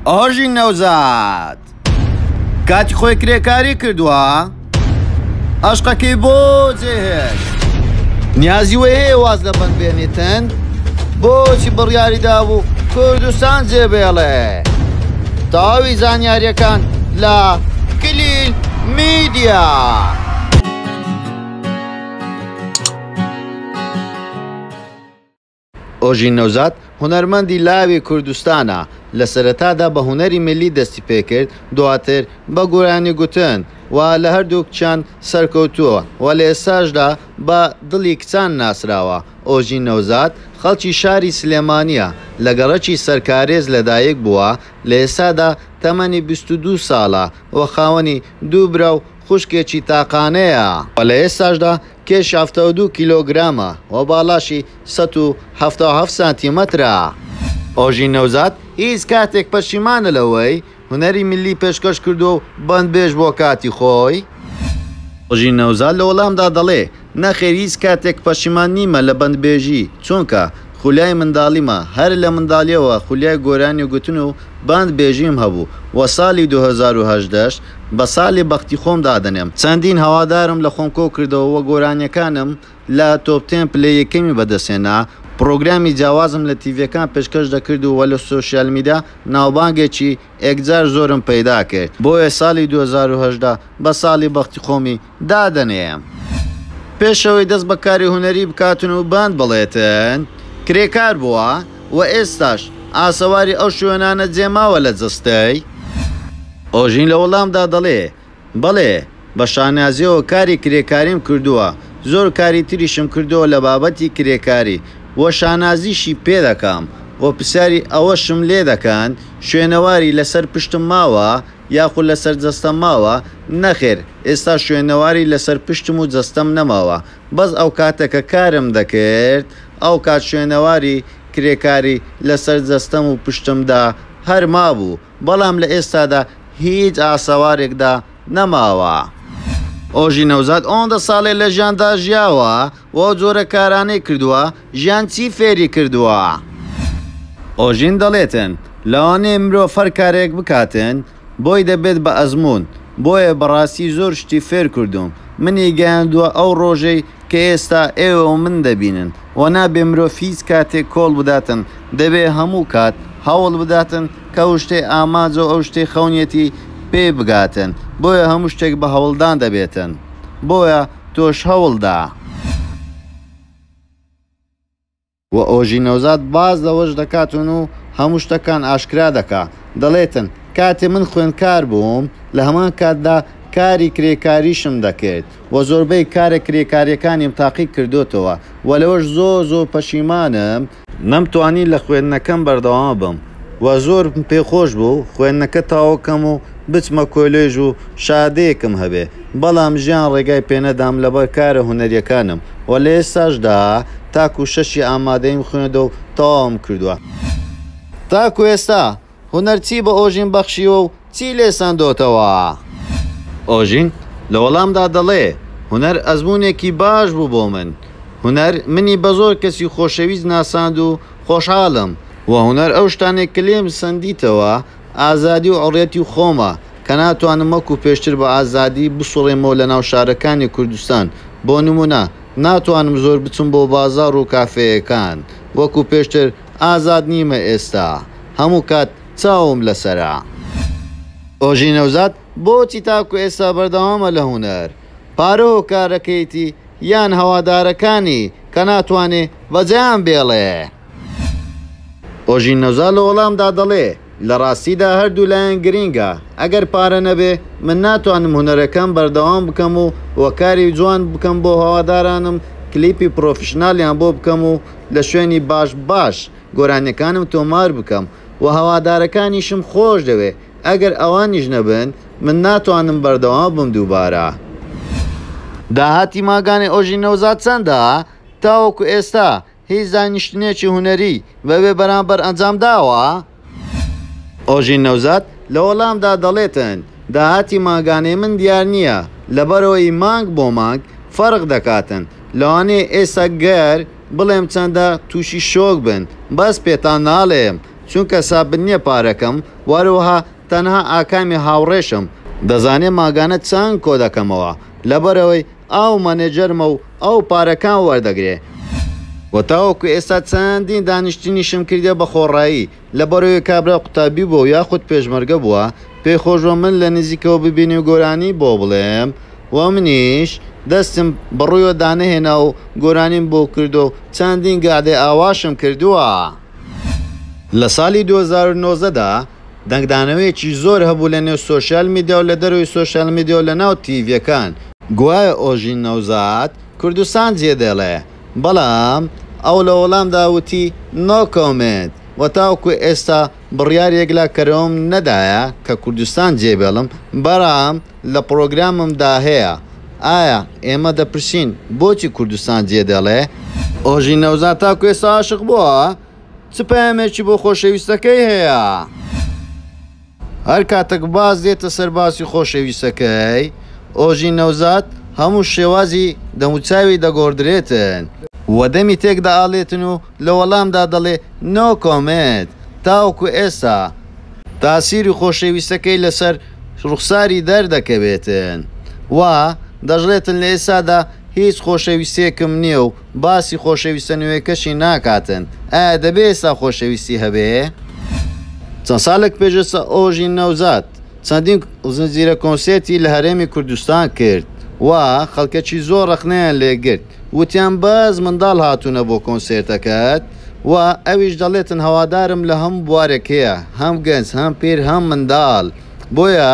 ئاژین نەوزاد کاتی خۆی کرێکاری کردووە ئەشقەکەی بۆ جێهێشت نیازی وە هەیە واز لە بەند بێنێتن بۆچی بڕیاری دابوو کوردستان جێبێڵێ تەواوی زانیاریەکان لە کلیل میدیا. ئۆژین نەوزاد هونەرمەندی لاوی کوردستانە، لە سەرەتادا بە هونەری میللی دەستی پێکرد، دواتر بە گۆرانی گوتن و لە هەردوو کچان سەرکەوتووە و لە ئێستاشدا بە دڵی کچان ناسراوە. ئۆژین نەوزاد خەڵکی شاری سلێمانییە، لە گەڕەکی سەرکارێز لەدایک بووە، لە ئێستادا تەمەنی بیست و دوو ساڵە و خاوەنی دوو برا و خوشکێکی تاقانەیە. و لە ئێستاشدا کێش حەفتا و دوو کیلۆگرامە و باڵاشی سەد و حەفتا و حەفت سانتیمەترە. ئۆژین نەوزاد هیچ کاتێک پەشیمانە لەوەی هونەری میللی پێشکەش کردووە و بەندبێژ بۆ کاتی خۆی؟ ئۆژین نەوزاد لە وەڵامدا دەڵێ، نەخێر هیچ کاتێک پەشیمان نیمە لە بەندبێژی، چونکە خولیای منداڵیمە، هەر لە منداڵییەوە خولیای گۆرانی گوتن و باند بێژیم هەبوو وە سالی دوو هەزار و هەژدە ش بە سالی بەختی خۆم دادەنێم چەندین هەوادارم لە خۆم کۆ کردەوە وە گۆرانیەکانم لە تۆپ تێن پلەی یەکەمی بەدەست هێنا پڕۆگرامی جیاوازم لە تیڤێکان پێشکەش دەکرد و وە لە سۆشیال میدا ناوبانگێکی ئێکجار زۆرم پەیدا کرد بۆیە سالی دوو هەزار و هەژدە بە سالی بەختی خۆمی دادەنێم. پێش ئەوەی دەست بە کاری هونەری بکاتن و بەند بڵێتن، کرێکار بووە و ئێستاش ئاسەواری ئەو شوێنانە جێ ماوە لە جەستەی؟ ئۆژین لە وەڵامدا دەڵێ، بەڵێ، بە شانازییەوە کاری کرێکاریم کردووە، زۆر کاری تریشم کردووە لە بابەتی کرێکاری و شانازیشی پێ دەکەم و پرسیاری ئەوەشم لێ دەکەن، شوێنەواری لە سەر پشتم ماوە؟ یاخو لەسەر جەستەم ماوە؟ نەخێر ئێستا شوێنەواری لەسەر پشتم و جەستەم نەماوە بەس ئەوکاتە کە کارم دەکرد ئەوکات شوێنەواری کرێکاری لەسەر جەستەم و پشتمدا هەر مابوو بەڵام لە ئێستادا هیچ ئاسەوارێکدا نەماوە. ئۆژی نەوزاد ئۆندە ساڵێ لەژیاندا ژیاوە وەو جۆرە کارانەی کردوە، ژیان چی فێری کردووە؟ ئۆژین دەڵێتن، لەوانەیە مرۆڤ هەر کارێک بکاتن بۆی دەبێت بە ئەزموون، بۆیە بەڕاستی زۆر شتی فێر کردووم، منی گەیاندووە ئەو ڕۆژەی کە ئێستا ئێوە و من دەبینن و نابێ مرۆڤ هیچ کاتێک کۆڵ بداتن، دەبێ هەموو کات هەوڵ بداتن کە ئەو شتەی ئاماجە و ئەو شتەی خەونیەتی پێی بگاتن، بۆیە هەموو شتێک بە هەوڵدان دەبێتن، بۆیە تۆش هەوڵدە. و ئۆژین نەوزاد باس لەوەش دەکاتن و هەموو شتەکان ئاشکرا دەکا دەڵێتن، کاتێ من خوێندکار بووم لە هەمان کاتدا کاری کرێکاریشم دەکرد و زۆربەی کارە کرێکاریەکانیم تاقی کردۆتەوە و لەوەش زۆر زۆر پەشیمانم، نەمتوانی لە خوێندنەکەم بەردەوام بم وە زۆرم پێ خۆش بوو خوێندنەکە تاو کەم و بچمە کۆلێژ و شەهادەیەکم هەبێ بەڵام ژیان ڕێگای پێ نەدام لەبەر کارە هونەریەکانم وە لە ئێستاش دا تاکو شەشی ئامادەیم خوێندە و تەواوم کردوە. تاکو ئێستا هونەر چی بە ئۆژین بەخشیوە و چی لێ سەندۆتەوە؟ ئۆژین لە وەڵامدا دەڵێ، هونەر ئەزموونێکی باش بوو بۆ من. هونەر منی بە زۆر کەسی خۆشەویست ناساند و خۆشحاڵم و هونەر ئەو شتانەی کە لێم سەندیتەوە ئازادی و حوڕیەتی خۆمە کە ناتوانم وەکوو پێشتر بە ئازادی بسوڕێمەوە لە ناو شارەکانی کوردستان بۆ نموونە ناتوانم زۆر بچم بۆ بازاڕ و کافێیەکان وەکوو پێشتر ئازاد نیمە ئێستا هەموو کات چاوم لەسەرە. ئۆژین نەوزاد بۆچی تاکو ئێستا بەردەوامە لە هونەر؟ پارە هۆکارەکەیەتی یان هەوادارەکانی کە ناتوانێ بە جەیان بێڵێ؟ ئۆژین نەوزاد لە وەڵامدا دەڵێ، لە ڕاستیدا هەردوو لایەن گرینگە، ئەگەر پارە نەبێ من ناتوانم هونەرەکەم بەردەوام بکەم و کاری جوان بکەم بۆ هەوادارانم، کلیپی پڕۆفیشناڵیان بۆ بکەم و لە شوێنی باش باش گۆرانیەکانم تۆمار بکەم و هەوادارەکانیشم خۆش دەوێ ئەگەر ئەوانیش نەبن من ناتوانم بەردەوام بم دووبارە. داهاتی ماگانەی ئۆژین نەوزاد چەندە؟ تاوەکو ئێستا هیچ دانیشتنێکی هونەری بە بێ بەرامبەر ئەنجام داوە؟ ئۆژین نەوزاد لە وەڵامدا دەڵێتن داهاتی مانگانەی من دیار نییە لەبەرئەوەی مانگ بۆ مانگ فەرق دەکاتن، لەوانەیە ئێستا گەر بڵێم چەندە تووشی شۆک بن بەس پێتان ناڵێم چونکە سابت نییە پارەکەم وەروەها تەنها ئاکامی هاوڕێشم دەزانێ مانگانە چەند کۆدەکەمەوە لەبەرئەوەی. ئەو مەنێجەرمە و ئەو پارەکان وەردەگرێ. و تاوەکو ئێستا چەندین دانیشتنیشم کردیە بە خۆڕایی، لەبەرئەوەی کابرا قوتابی بووە و یاخود پێشمەرگە بووە، پێی خۆش بووە من لە نزیکەوە ببینی و گۆرانی بۆ بڵێم و منیش دەستم بەڕوویەوە دانەهێنا و گۆرانیم بۆ کردووە و چەندین گەعدەی ئاواشم کردووە. لە سالی دوو هەزار و نۆزدە دا، دەنگدانەوەیەکی زۆر هەبوو لە نێو سۆشیال میدیا و لە دەرەوەی سۆشیال میدیا و لە ناو تیڤیەکان، گوایە ئۆژین نەوزاد کوردستان جێ دێڵێ، بەڵام ئەو لە وەڵامدا وتی نۆ کۆمێنت و تاوەکو ئێستا بڕیاری یەکلاکەرەوەم نەدایە کە کوردستان جێ بێڵم، بەرام لە پڕۆگرامم دا هەیە، ئایا ئێمە دەپرسین بۆچی کوردستان جێ دێڵێ؟ ئۆژین نەوزاد تاکو ئێستا ئاشق بووە؟ چ پەیامێکی بۆ خۆشەویستەکەی هەیە؟ هەر کاتەک باز دێتە سەر باسی خۆشەویستەکەی، ئۆژین نەوزاد هەموو شێوازی دەموچاوی دەگۆڕدرێتن، و دەمی تێک دەئاڵێتن و لە وەڵامدا دەڵێ نۆ کۆمێنت تاوەکو ئێستا تاسیری خۆشەویستەکەی لەسەر ڕوخساری دەردەکەوێتن و دەشڵێتن لە ئێستادا هیچ خۆشەویستێکم نییە و باسی خۆشەویستە نوێکەشی ناکاتن ئایا دەبێ ئێستا خۆشەویستی هەبێ؟ چەند سالێک پێش ئێستا ئۆژین نەوزاد چەندین زنجیرە کۆنسێرتی لە هەرێمی کوردستان کرد و خەلکەکی زۆر رەخنەیان لێ گرت وتیان بەس مندال هاتونە بۆ کۆنسێرتەکەت و ئەویش دەڵێتن هەوادارم لە هەموو بوارێک هەیە هەم گەنج هەم پیر هەم مندال بۆیە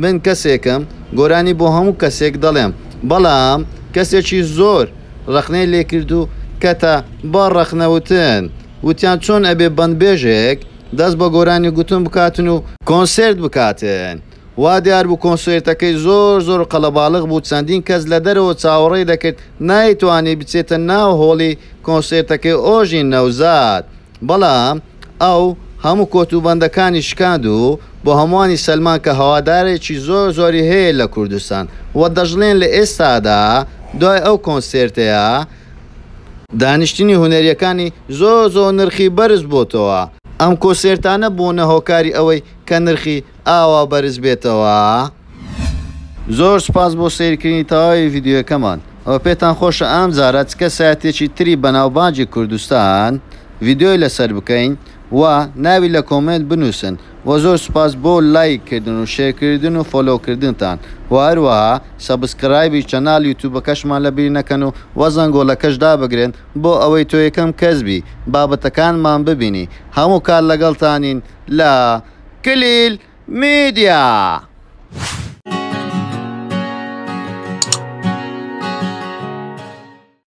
من کەسێکم گۆرانی بۆ هەموو کەسێک دەڵێم بەڵام کەسێکی زۆر ڕەخنەی لێ کرد و کەتە بە ڕەخنە وتن وتیان چۆن ئەبێ بەندبێژێک دەست بە گۆرانی گوتن بکاتن و کۆنسێرت بکاتن وا دیار بوو کۆنسێرتەکەی زۆر زۆر قەڵەباڵغ بوو چەندین کەس لە دەرەوە چاوەڕێی دەکرد نایتوانی بچێتە ناو هۆڵی کۆنسێرتەکەی ئۆژین نەوزاد بەڵام ئەو هەموو کۆتوبەندەکانی شکاند و بۆ هەمووانی سەلماند کە هەوادارێکی زۆر زۆری هەیە لە کوردستان و دەشڵێن لە ئێستادا دوای ئەو کۆنسێرتەیە دانیشتنی هونەرییەکانی زۆر زۆر نرخی بەرز بۆتەوە. ئەم کۆسێرتانە بوونە هۆکاری ئەوەی کە نرخی. ئاوا بەرز بێتەوە. زۆر سوپاس بۆ سەیرکردنی تەواوی ڤیدیۆیەکەمان. ئەوە پێتان خۆشە ئەمجارە چ کەسایەتیەکی تری بەناوبانگی کوردستان ڤیدیۆی لەسەر بکەین و ناوی لە کۆمێنت بنوسن وە زۆر سوپاس بۆ لایک کردن و شێرکردن و فۆلۆ کردنتان و هەروەها سەبسکرایبی چەناڵ یوتوبەکەشمان لە بیر نەکەن و وە زەنگۆڵەکەش دابگرن بۆ ئەوەی تۆ یەکەم کەس بی بابەتەکانمان ببینی هەموو کات لەگەڵتانین لە کلیل میدیا.